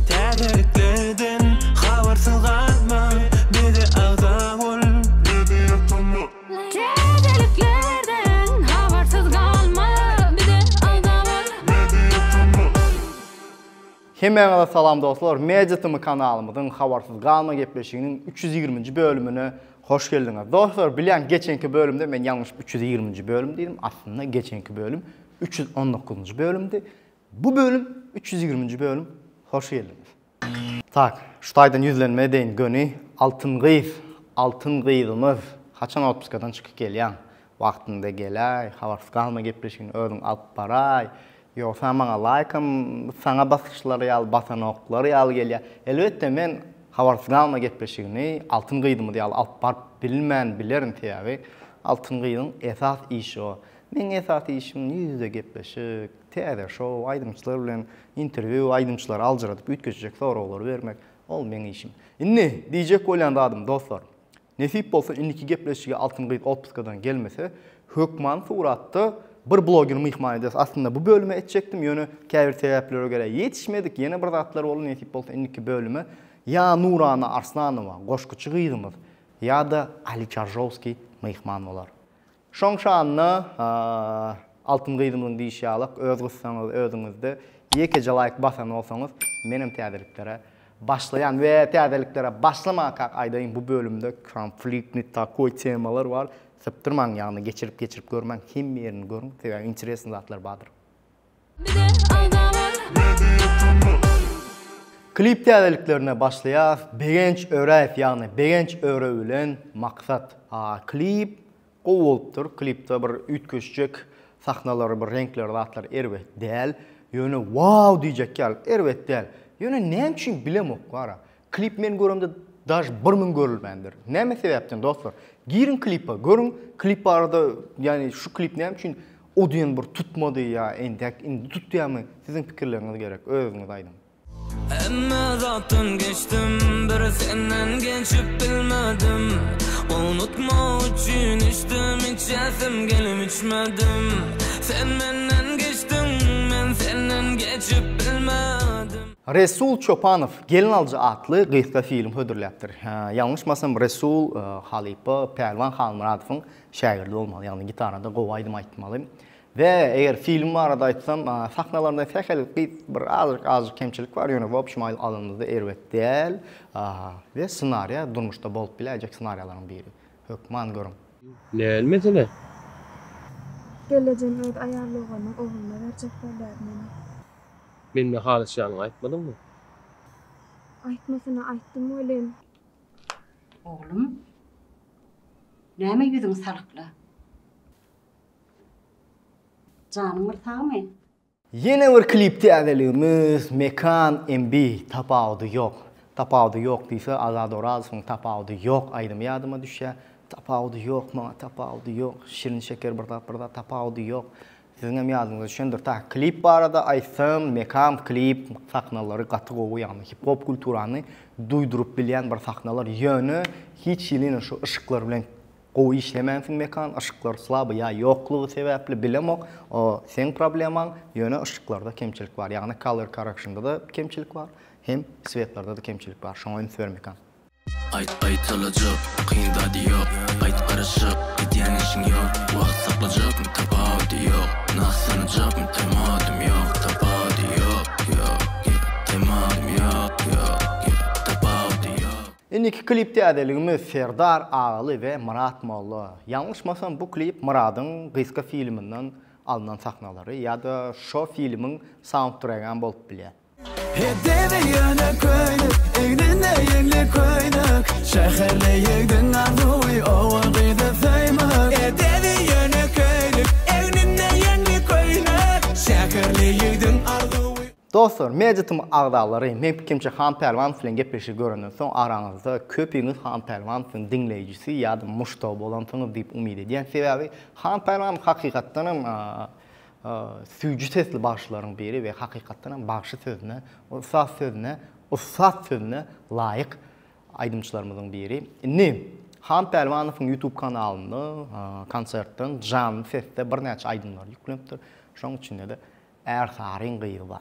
Täzelikleden habarsyz galma, bize agza bol, bizi ýatama. Täzeliklerden habarsyz galma, bize agza bol, bizi ýatama. Hemmäňize salam dostlar, Media Tm kanalymyzyň Habarsyz galma gepleşiginiň üç ýüz ýigriminji bölümine hoş geldiňiz. Dostlar, bilýän geçenki bölümde men ýalňyşyp üç ýüz ýigriminji bölüm diýdim, aslynda geçenki bölüm üç ýüz on dokuzynjy bölümdi. Bu bölüm üç ýüz ýigriminji bölüm hoş geldiňiz. Tak, şu taýdan ýüzlenme edeýin göni Altyn gyz, Altyn gyzymyz haçan otpuskadan çykyp gelýäň? Wagtynda geläý, habarsyz galma gepleşigini özüň alyp baraý, ýogsa maňa laýkam saňa basyşlary ýaly basanoklar ýaly gelýär. Elbetde men habarsyz galma gepleşigini Altyn gyzymyz ýaly alyp baryp bilmän bilerin sebäbi Altyn gyzyň esas işi o. Meň esas işim ýüz ýüze gepleşik. Täze şou, aýdymçylar bilen interwýu, aýdymçylary aljyradyp üýtgeşijek soraglary bermek, ol meň işim. Indi, diýjek bolýan zadym, dostlar, nesip bolsa indiki gepleşige Altyn gyz otpuskadan gelmese, hökmany suratda bir blogeri myhman ederis. Aslynda bu bölüme etjekdim, ýöne käbir sebäplere görä ýetişmedik, ýene bir zatlar boldy, nesip bolsa indiki bölüme ýa Nurana Arslanowa, goşguçy gyzymyz, ýa-da Ali Çarjowskiý myhman bolar. Şoň şanda Altyn gyzymyzyň diýişi ýalak öz gyssaňyz özüňizde ýekeje laýk basan bolsaňyz menem täzeliklere başlaýan we täzeliklere başlamakak aýdaýyn bu bölümde konfliktni takoý temalar bar sypdyrmaň ýagny geçirip geçirip görmäň hemme ýerini görüň sebäbi interesni zatlar bardyr. Klip täzeliklerine başlaýas Begenç Öräýew ýagny Begenç Öre bilen Maksat. Klip gowy bolupdyr. Klipde bir üýtgeşjek sahnalary bir reňkleri zatlary erbet däl. Ýöne wow diýjek ýaly erbet däl. Ýöne näme üçin bilemok wara. Klip men göremde daž bir müň görülmändir. Näme sebäpden dostlar? Giriň klipa, görüň klip barada, ýagny şu klip näme üçin o diýen bir tutmady ýa entäk indi tutýamy? Siziň pikirleriňiz gerek, özüňiz aýdyň. Hemme zatdan geçdim bir senden geçip bilmedim Unutmak üçin içdim içesim gelip içmedim Sen menden geçdiň men senden geçip bilmedim Resul Çopanow Gelin alyjy atly gysga film hödürläpdir. Ýalňyşmasam Resul halypa Pälwan Halmyradowyň şägirdi bolmaly, ýagny gitarada gowy aýdym aýtmaly. We eger film barada aýtsam, sahnalarynda sähel gyz bir azajyk azajyk kemçilik bar, ýöne wobşem aýl alanyňyzda erbet däl. We ssenariýa durmuşda bolup biläýjek ssenariýalaryň biri. Hökman görüň. Näl mesele? Gelejegini öz aýal doganynyň ogluna berjek bolýar meni. Mende halyçýanyňy aýtmadyňmy? Aýtmasyna aýtdym welin. Oglum, näme ýüzüň salykla? Janyň bir sagmy? Ýene bir klip täzeligimiz Mekan MB Tapawudy ýok. Tapawudy ýok diýse Azat Orazowyň Tapawudy ýok aýdymy ýadyma düşýär. Tapawudy ýok maňa tapawudy ýok, Şirin şeker bir zat bir zat tapawudy ýok. Siziňem ýadyňyza düşendir ta klip barada aýtsam Mekam klip sahnalary gaty gowy ýagny hip hop kulturany duýduryp bilýän bir sahnalar ýöne hiç hiliňe şu yşyklar bilen gowy işlemänsiň Mekan yşyklar slaby ýa ýoklugy sebäpli bilemok o seň problemaň ýöne yşyklarda kemçilik bar ýagny color correction-da da kemçilik bar hem swetlerdada kemçilik bar şoňa üns ber Mekan. Aýt aýtalajak kyn zady ýok Aýt garaşyp gidýän işiň ýok Wagt saklajakmy tapawudy ýok Nah sanajakmy temadym ýok Tapawudy ýok ýok ýok Temadym ýok ýok ýok Tapawudy ýok. Indiki klip täzeligimiz Serdar Agaly we Myrat Molla. Ýalňyşmasam bu klip Myradyň gysga filminden alnan sahnalary ýa-da şo filmiň saundtregem bolup bilýär. Heddebi ýöne köýnük, egninde ýeňli köýnük, Şäherli ýigdiň arzuwy oba gyzy söýmek. Heddebi ýöne köýnük, egninde ýeňli köýnük, Şäherli ýigdiň arzuwy. Dostlar, Meditm agzalary, men pikimçe Han Pälwan bilen gepleşigi görenden soň araňyzda köpüňiz Han Pälwan biziň diňleýjisi ýa-da muşdagy bolansyňyz diýip umyt edýän, sebäbi Han Pälwan hakykatdanam Süýji sesli bagşylaryň biri we hakykatdan hem bagşy sözüne, ussat sözüne, ussat sözüne laýyk aýdymçylarymyzyň biri. Indi Han Pälwanowyň YouTube kanalynda konsertden janly sesde birnäçe aýdymlary ýüklenipdir. Şonuň içinde-de Ärsaryň gyzy bar.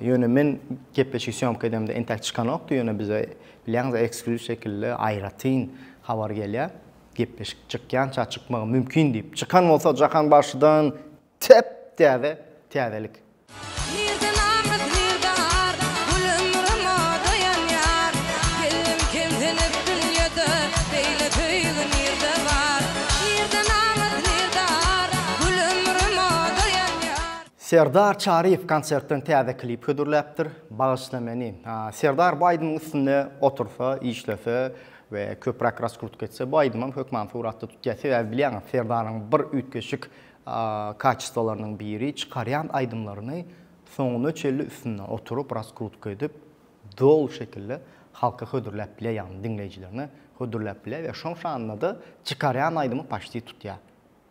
Ýöne men gepleşigi sýomka edemde entäk çykanokdy, ýöne bize bilýäňiz eksklýuz şekilde aýratyn habar gelýär. Gepleşik çykýança çykmagy mümkin diýip. Çykan bolsa Jahan bagşydan tep täze täzelik. Serdar Çaryýew konsertden täze klip hödürläpdir, Bagyşla meni. Serdar bu aýdymyň üstünde otursa, işlese we köpräk raskrutka etse, bu aýdymam hökman suratda tutýar. Sebäbi bilýäňiz, Serdaryň bir üýtgeşik kaçestwalarynyň biri, çykarýan aýdymlaryny soňuna çenli üstünde oturyp, raskrutka edip, doly şekilde halka hödürläp bilýär, ýagny diňleýjilerine hödürläp bilýär we şoň şanda-da çykarýan aýdymy paşti tutýar.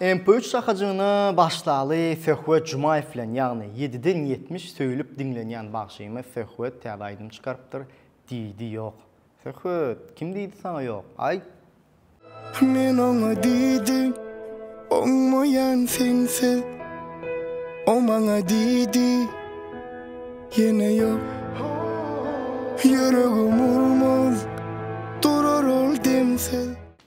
MP üç şahajygyna başsaly Söhbet Jumaýew bilen, ýagny ýediden ýetmiş söýlüp diňlenýän bagşymyz Söhbet täze aýdym çykarypdyr, diýdi ýok. Söhbet, kim diýdi saňa ýok, aýt! Men oňa diýdim, oňmaýan sense, o maňa diýdi, ýene ýok. Ýüregim urmaz durar ol demsiz.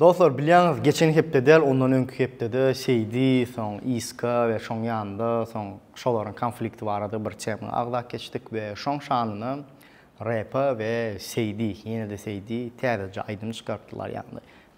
Dostlar bilýäňiz geçen hepde däl ondan öňki hepdede Seýdi soň Iska we şoň ýanynda soň şolaryň konflikti barada bir tema agzap geçdik we şoň şanyna Repa we Seýdi ýene-de Seýdi täzeje aýdym çykartdylar ýagny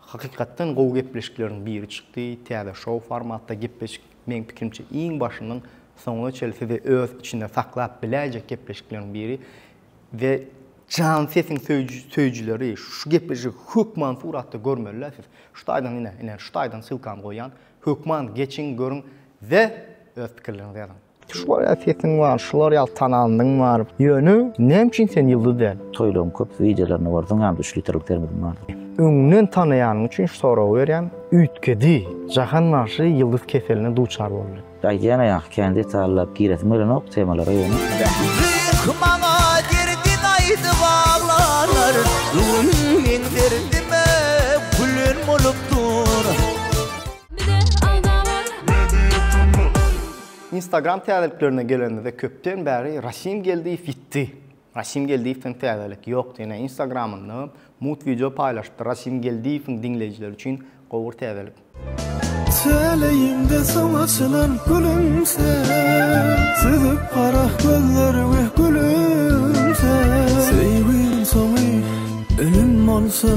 Hakykatdan gowy gepleşikleriň biri çykdy, täze şou formatda gepleşik meň pikirimçe iň başyndan soňuna çenli sizi öz içinde saklap biläýjek gepleşikleriň biri we Jan sesiň söýüjileri şu gepleşigi hökman suratda görmeliler siz şu taýdan ine ine şu taýdan ssylkany goýýan hökman geçiň görüň we öz pikirleriňizi ýazyň. Şular ýaly sesiň bar, şular ýaly talandyň bar. Ýöne näme üçin sen ýyldyz däl? Toýlaryň köp wideolaryny gördüň ýaly üç litrlik termozym bardy. Öňden tanaýanyň üçin şu soragy berýän, üýtgedi. Jahan bagşy ýyldyz keseline duçar boldy. Aýdýana ýaňky kän detallap giresim gelenok temalara ýöne. Gyz maňa derdin aýdyp aglanar Gülüm meň derdime gülen bolup dur. Instagram täzeliklerine gelenimizde köpden bäri Rasim Geldiýew ýitdi. Rasim Geldiýewden täzelik ýok diýen Instagramynda mugt wideo paýlaşypdyr. Rasim Geldiýewiň diňleýjileri üçin gowy bir täzelik. Täleýimde soň açylan gülümse Süzüp gara gözlerimi gülümse Söýgüň soňy ölüm bolsa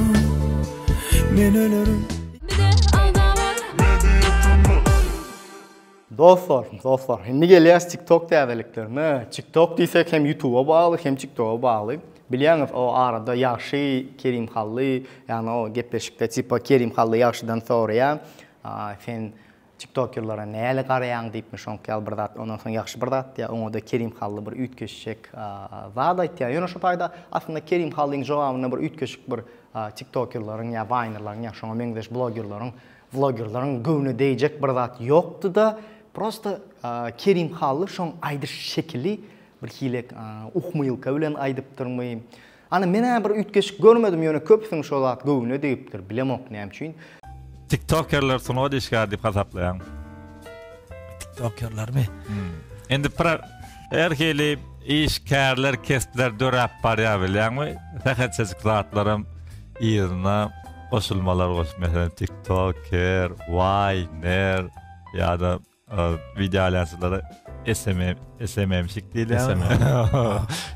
Men ölerin Dostlar, dostlar, indi gelýäs TikTok täzeliklerine. TikTok diýsek hem YouTube-a bagly, hem TikTok-a bagly. Bilýäňiz, o arada ýagşy Kerim Hally, ýagny o gepleşikde tipa Kerim Hally ýagşydan soraýar, Sen Tiktokerlere näle garaýaň diýipmi şoňky ýaly bir zat ondan soň ýagşy bir zat diýýär oňada Kerim Hally bir üýtgeşjek zat aýtýar ýöne şu taýda aslynda Kerim Hallyň jogabynda bir üýtgeşik bir Tiktokerleriň ýa Waynerleriň ýa şoňa meňzeş blogerleriň vlogerleriň göwne degjek bir zat ýokdyda prosta Kerim Hally şoň aýdyş şekili bir hile uhmylka bilen aýdypdyrmy Ana menä bir üýtgeşik görmedim ýöne köpüsini şo zat göwnüne degipdir bilemok näme üçin. Tiktokerler sungat işgäri diýip hasaplaýaň. Tiktokerlermi? Indi pro her hili işgärler kestler döräp barýar bilýäňmi? Sähelçejik zatlaram yzyna goşulmalar goşup meselem tiktoker, waýner ýa-da Wideoaýlanjylara SMM-şik diýilýärmi?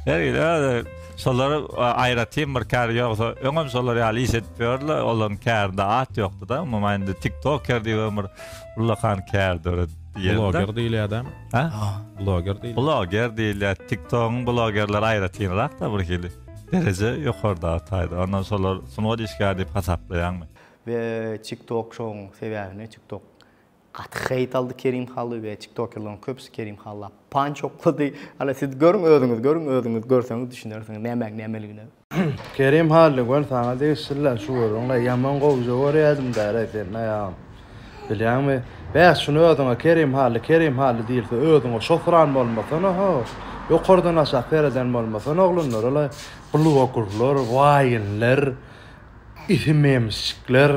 Her ýerde şolara aýratyn bir kär ýogsa, öňem şolar ýaly iş edip ýördiler, olaryň kärinde at ýokdy-da, umuman indi tiktoker diýip hem bir ullakan kär döredip ýörler. Bloger diýilýär-dä. Hä? Bloger diýilýär. Bloger diýilýär. Tiktogyň blogerleri aýratynrak-da birhili. Dereje ýokardaky taýda. Ondan şolar sungat işgäri diýip hasaplaýaňmy? We TikTok şoň sebäbini, TikTok Gaty hate aldy Kerim Hally we tiktokerleriň köpüsi Kerim Halla panç oklady. Hany siz görüň özüňiz görüň özüňiz görseňiz düşünersiňiz nämäň nämeligine. Kerim Hally göni saňa degişliler şu görüňle ýaman gowja görýädim däreý seniň aýagyň bilýäňmi bäh şuny özüňe Kerim Hally Kerim Hally diýilse özüňe şosyran bolmasana ho ýokardan aşak sereden bolmasana oglanlar alaý bluogurlar waýinler Isimemsikler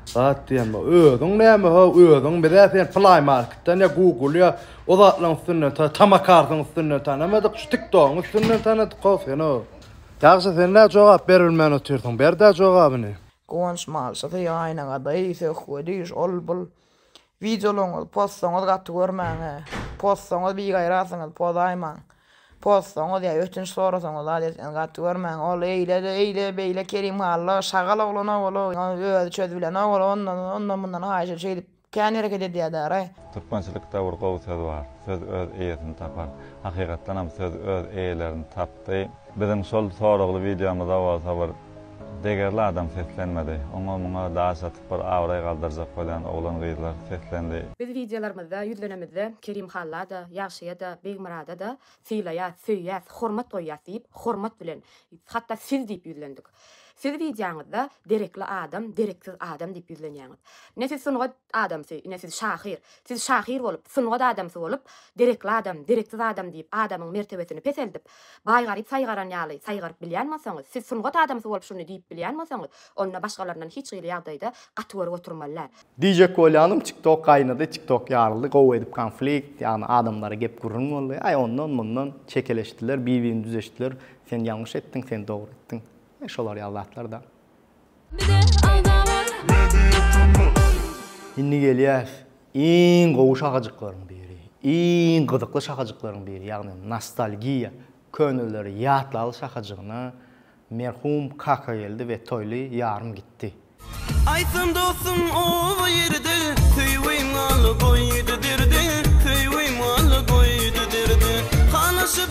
zat diýen bu. Özüň näme how özüň bizä sen play marketden ýa google ýa o zatlaryň üstünden ta tamakardyň üstünden tanamadyk şu tiktogyň üstünden tanadyk how sen how. Ýagşy sen nä jogap berilmän otyrsyň berdä jogabyny. Guwanç malşysy aýnaga daýy söhbedi şol bul. Wideolaryňyzy postaňyz gaty görmäňä. Postaňyz bigaýrasyňyz pozaýmaň. Postaňyz ýa ötünç sorasaňyz zat etseňiz gaty görmäň. Ol eýlede eýle beýle Kerim Hally şagal oglan owaly özi çözübilen owaly ondan ondan mundan haýyşa şeýdip kän hereket edýädäraý. Türkmençilik de bir gowy söz bar. Söz öz eýesini tapar. Hakykatdanam söz öz eýelerini tapdy. Biziň şol soragly wideomyza bolsa bir. Degerli adam seslenmedi. Oňa-muňa daş atyp bir abraý galdyrjak bolýan oglan-gyzlar seslendi. Biz wideolarymyzda ýüzlenemizde Kerim Halla-da, Ýagşyýa-da, Begmyrada-da sylaýas, söýýäs, hormat goýýas diýip, hormat bilen, hatda siz diýip ýüzlendik. Siz wideoňyzda derekli adam, dereksiz adam diýip ýüzlenýäňiz. Ne siz sungat Adamsy, ine siz şahyr. Siz şahyr bolup, sungat adamsy bolup, derekli adam, dereksiz adam diýip adamyň mertebesini peseldip, baý-garyp saýgaran ýaly saýgaryp bilýän bolsaňyz, siz sungat adamsy bolup şuny diýip bilýän bolsaňyz, onda başgalaryndan hiç hili ýagdaýda gaty görüp oturmaly däl. Diýjek bolýanym tiktok gaýnady, tiktok ýaryldy, gowy edip konflikt, ýagny adamlara gep gürrüň boldy, aý ondan mundan çekeleşdiler, bir-birini düzeşdiler, sen ýalňyş etdiň, sen dogry etdiň, şolar ýaly zatlar da. Indi gelýäs iň gowy şahajyklaryň biri, iň gyzykly şahajyklaryň biri, ýagny nostalgiýa, köneleri ýatlaly şahajygyna, merhum Kakageldi we Toýly ýarym gitdi. Aýtsyn dostum oba ýerde, söýgim al goýdy derde, söýgim al goýdy derde, halaşyp.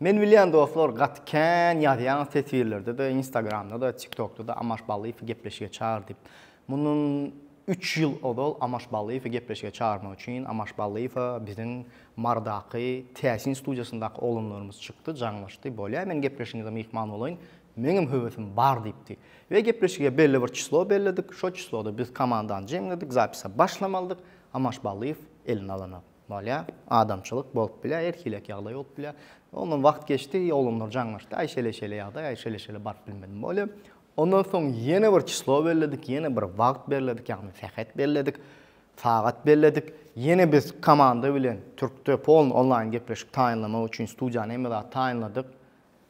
Men bilýän dostlar gaty kän ýazýaňyz teswirlerdede instagramdada tiktokdada Amaş Ballyýewi gepleşige çagyr diýip. Mundan üç ýyl ozal Amaş Ballyýewi gepleşige çagyrmak üçin Amaş Ballyýewa biziň Marydaky Täsin studiýasyndaky oglanlarymyz çykdy jaňlaşdy bolýa men gepleşigiňize myhman bolaýyn meňem höwesim bar diýipdi we gepleşige belli bir çyslo belledik şo çysloda biz komandany jemledik zapisa başlamalydyk Amaş Ballyýew elini alanyp Bolýa, adamçylyk bolup bilýä, her hilek ýagdaý bolup bilýä. Ondan wagt geçdi, oglanlar jaňlaşdy, aý şele-şele ýagdaý, aý şele-şele baryp bilmedim bolýa. Ondan soň ýene bir çyslo belledik, ýene bir wagt belledik, ýagny sähet belledik, sagat belledik. Ýene biz komanda bilen türkde polny onlaýn gepleşik taýynlamak üçin studiýany hemme zady taýynladyk.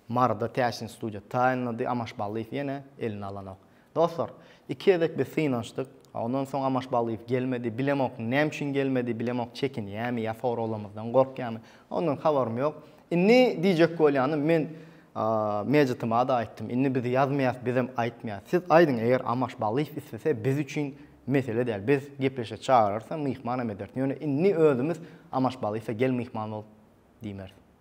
Maryda täsin studiýa taýynlady, Amaş Ballyýew ýene eline alanok. Dostlar, iki gezek biz synanyşdyk, ondan soň Amaş Ballyýew gelmedi, bilemok näme üçin gelmedi, bilemok çekinýärmi ýa soraglarymyzdan gorkýarmy, ondan habarym ýok. Indi diýjek bolýanym, men Mejitime-de aýtdym, indi biz ýazmaýas, bizem aýtmaýas. Siz aýdyň, eger Amaş Ballyýew islese, biz üçin mesele däl, biz gepleşe çagyrarys hem, myhman hem ederis. Ýöne indi özümiz Amaş Ballyýewe gel myhman bol diýmeris.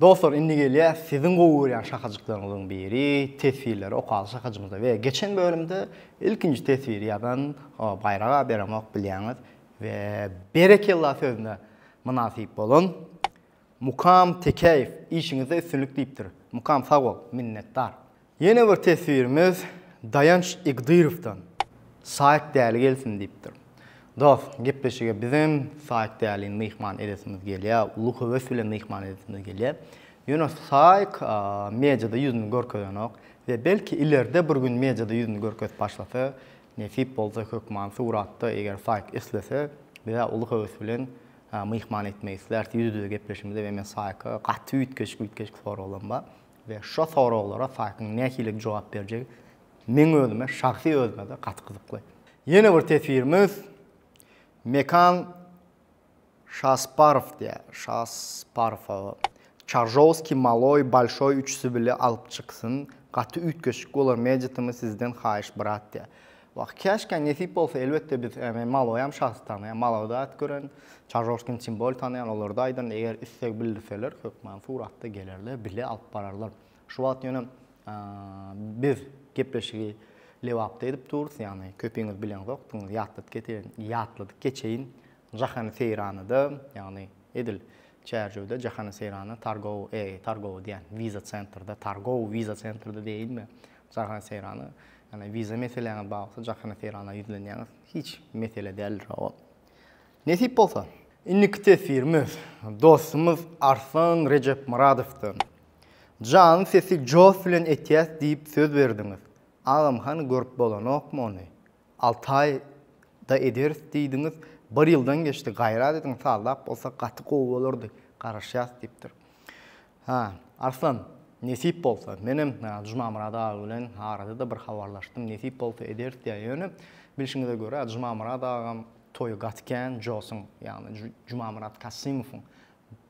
Dostlar indi gelýäs siziň gowy görýän şakajyklaryňyzyň biri teswirleri okaly şakajymyza we geçen bölümde ilkinji teswiri ýazan Baýrak aga berenok bilýäňiz we berekella sözüne mynasyp bolan Mukam Tekäýew işiňizde üstünlik diýipdir. Mukam sag bol, minnetdar. Ýene bir teswirimiz Daýanç Igdyrowdan. Saýk däli gelsin diýipdir. Dost, gepleşige bizem Saýk dälini myhman edesimiz gelýär, uly höwes bilen myhman edesimiz gelýär. Ýöne Saýk mediada ýüzüni görkezenok we belki ileride bir gün mediada ýüzüni görkezip başlasa, nesip bolsa hökman suratda eger Saýk islese, bizä uly höwes bilen myhman etmek isläris, ýüz-ýüze gepleşimize we men Saýka gaty üýtgeşik-üýtgeşik soraglaryň bar. We şo soraglara Saýkyň nähili jogap berjegi meň özüme şahsy özüme-de gaty gyzykly. Ýene bir teswirimiz Mekan Şasparow diýä Şasparowa. Çaržowskiý maloý bolşoý üçüsi bile alyp çyksyn gaty üýtgeşik bolar meditimi sizden haýyş brat diýä. Wah, käşkä nesip bolsa, elbetde biz, men maloýam şahsy tanaýan, maloda dat gören, Çarjorskini çyn boýly tanaýan, olarda aýdan, eger isleg bildirseler, hökman suratda gelerler, bile alyp bararlar. Şu wagt ýöne biz gepleşigi Lebapda edip durus, ýagny köpiňiz bileňzokdyňyz, ýatladyp geteýin, ýatladyp geçeýin, Jahany Seýranada, ýagny edil Çärjewde Jahany Seýrana Targow, eý, Targow diýýän, Wiza Centrda, Targow Wiza Centrda diýeýinmi, Jahan Seýrany, ýagny wiza meseläňe bagly Jahana Seýrana ýüzlenýäňiz. Hiç mesele däldir ol. Nesip bolsa, indiki teswirimiz dostumyz Arslan Rejepmyradowdan. Janyň sesi joh bilen etýäs diýip söz berdiňiz. Agam hany görüp bolanokmy ony? Alty aý da ederis diýdiňiz, bir ýyldan geçdi, gaýrat ediň saldap bolsa gaty gowy bolardy, garaşýas diýipdir. Hä, Arslan, nesip bolsa, menem Jumamyrat aga bilen arada-da bir habarlaşdym, nesip bolsa ederis diýýär, ýöne, bilşiňize görä, Jumamyrat agam toýy gaty kän, Josyň, ýagny Jumamyrat Kasymowyň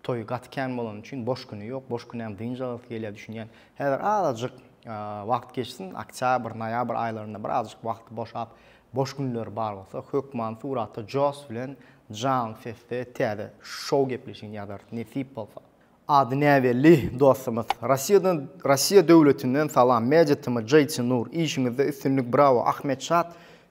toýy gaty kän bolany üçin boş güni ýok, boş günem dynç alasy gelýär, düşünýän. Häzir azajyk wagt geçsin, oktýabr, noýabr aýlarynda birazajyk wagty boşap, boş günleri bar bolsa, hökman suratda Jos bilen janly sesde täze şou gepleşigini ýazarys, nesip bolsa. Ady näbelli dostumyz. Rossiýadan Rossiýa döwletinden salam Magic tm Jayce Nur işiňizde üstünlik brawo Ahmet Şat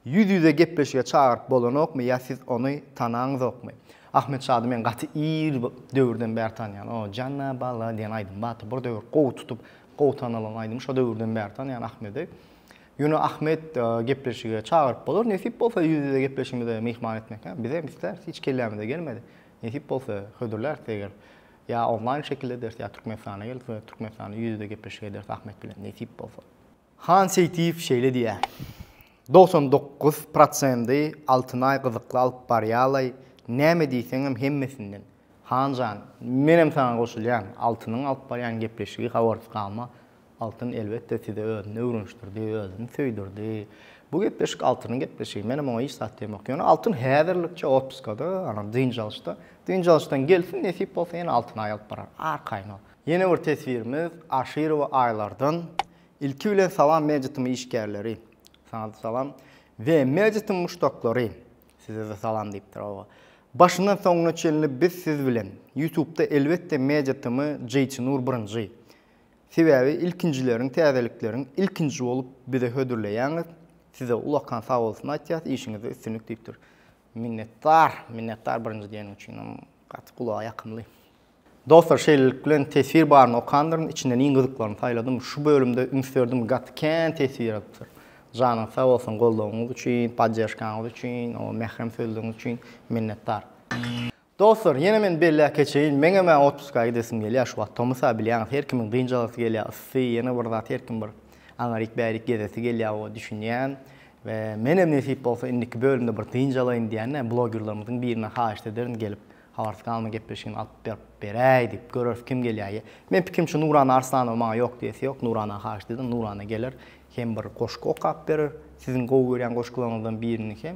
ýüz ýüze gepleşige çagyryp bolanokmy ýa siz ony tanaňzokmy Ahmet Şady men gaty ir döwürden bäri tanýan o Janna bala diýen aýdym bardy bir döwür gowy tutup gowy tanalan aýdym şo döwürden bäri tanýan Ahmedi ýöne Ahmet gepleşige çagyryp bolar nesip bolsa ýüz ýüze gepleşigimize myhman etmek hä bizem isläris hiç kellämize gelmedi. Nesip bolsa, hödürläris eger ýa onlaýn şekilde ederis, ýa Türkmenistana gelip we Türkmenistanda ýüz-ýüze gepleşik ederis Ahmet bilen, nesip bolsa. Han Seýtiýew şeýle diýýär, Dogsan dokuz prosendy Altynaý gyzykly alyp barýalaý, näme diýseňem hemmesinden. Han jan, menem saňa goşulýan, Altynyň alyp barýan gepleşigi habarsyz galma, Altyn elbetde sizi özüne öwrenişdirdi, özüni söýdürdi. Bu gepleşik Altynyň gepleşigi. Menem oňa hiç zat diýemok. Ýöne Altyn häzirlikçe otpuskada, ana, dynç alyşda. Dynç alyşdan gelsin, nesip bolsa ýene Altyny aýalyp barar. Arkaýyn ol. Ýene bir teswirimiz Aşyrowa Aýlardan. Ilki bilen salam Mejitiň işgärleri. Saňa-da salam. We Mejitiň muşdaklary. Size-de salam diýipdir, hawa. Başyndan soňuna çenli biz siz bilen. Ýutubda elbetde Mejitimi Jeýtinur birinji. Sebäbi ilkinjileriň täzelikleriň ilkinji bolup bize hödürleýäňiz. Size ulakan sagbolsun aýtýas işiňizde üstünlik diýipdir. Minnetdar, minnetdar birinji diýeniň üçinem gaty gulaga ýakymly. Dostlar şeýlelik bilen teswir baryny okandyryn içinden iň gyzyklyny saýladym şu bölümde üns berdim gaty kän teswir atypdyr. Janyňyz sag bolsun goldawyňyz üçin, podderžkaňyz üçin, o mährem sözleriňiz üçin minnetdar. Dostlar, ýene men belläp geçeýin, meňem-ä otpuska gidesim gelýär şu wagt. Tomus-a bilýäňiz, her kimiň dynjalasy gelýär, yssy, ýene bir zat her kim bir aňryk-bärik gezesi gelýär, oba düşünýän. We menem nesip bolsa indiki bölümde bir dynjalaýyn diýende, blogerlarymyzyň birine haýyşt ederin gelip, habarsyz galma gepleşigini alyp berip beräý diýip, göreris kim gelýär ýe. Men pikim şu Nurana Arslanowa maňa ýok diýesi ýok, Nurana haýyşt ederin, Nurana geler, hem bir goşgy okap berer, siziň gowy görýän goşgularyňyzdan birini hem.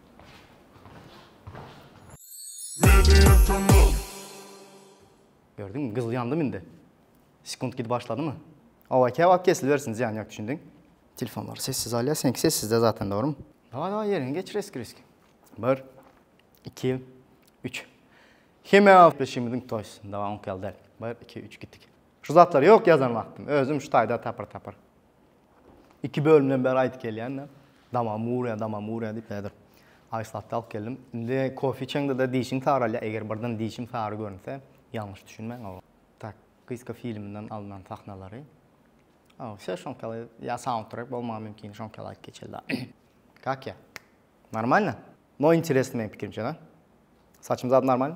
Gördüňmi, gyzyl ýandymy indi? Sekunt gidip başladymy? Awa, käwagt kesilibersin, zyýany ýok, düşündiň? Telefonlary sessiz alýar, seňki sessizde zaten, dogrumy? Daway, daway, ýeriňi geçir eskireski. Bir, iki, üç. Hemä gepleşigimiziň toýs, daway, oňki ýaly däl. Bir, iki, üç, gitdik. Şu zatlary ýok ýazan wagtym, özüm şu taýda tapyr-tapyr. Iki bölümden bäri aýdyp gelýän-de, damagym urýar, damagym urýar diýip häzir aýslatda alyp geldim. Indi kofe içeňde-de dişiň saralýar, eger birden dişim sary görünse, ýalňyş düşünmäň oba. Tak, gyzka filminden alnan sahnalary. O, şe şoňkaly ýa saundtrek bolmagy mümkin, şoňkaly aýdyp geçeli-da. Kak ýa? Normalno? No interesno meň pikirimçe, da? Saçym zat normalno?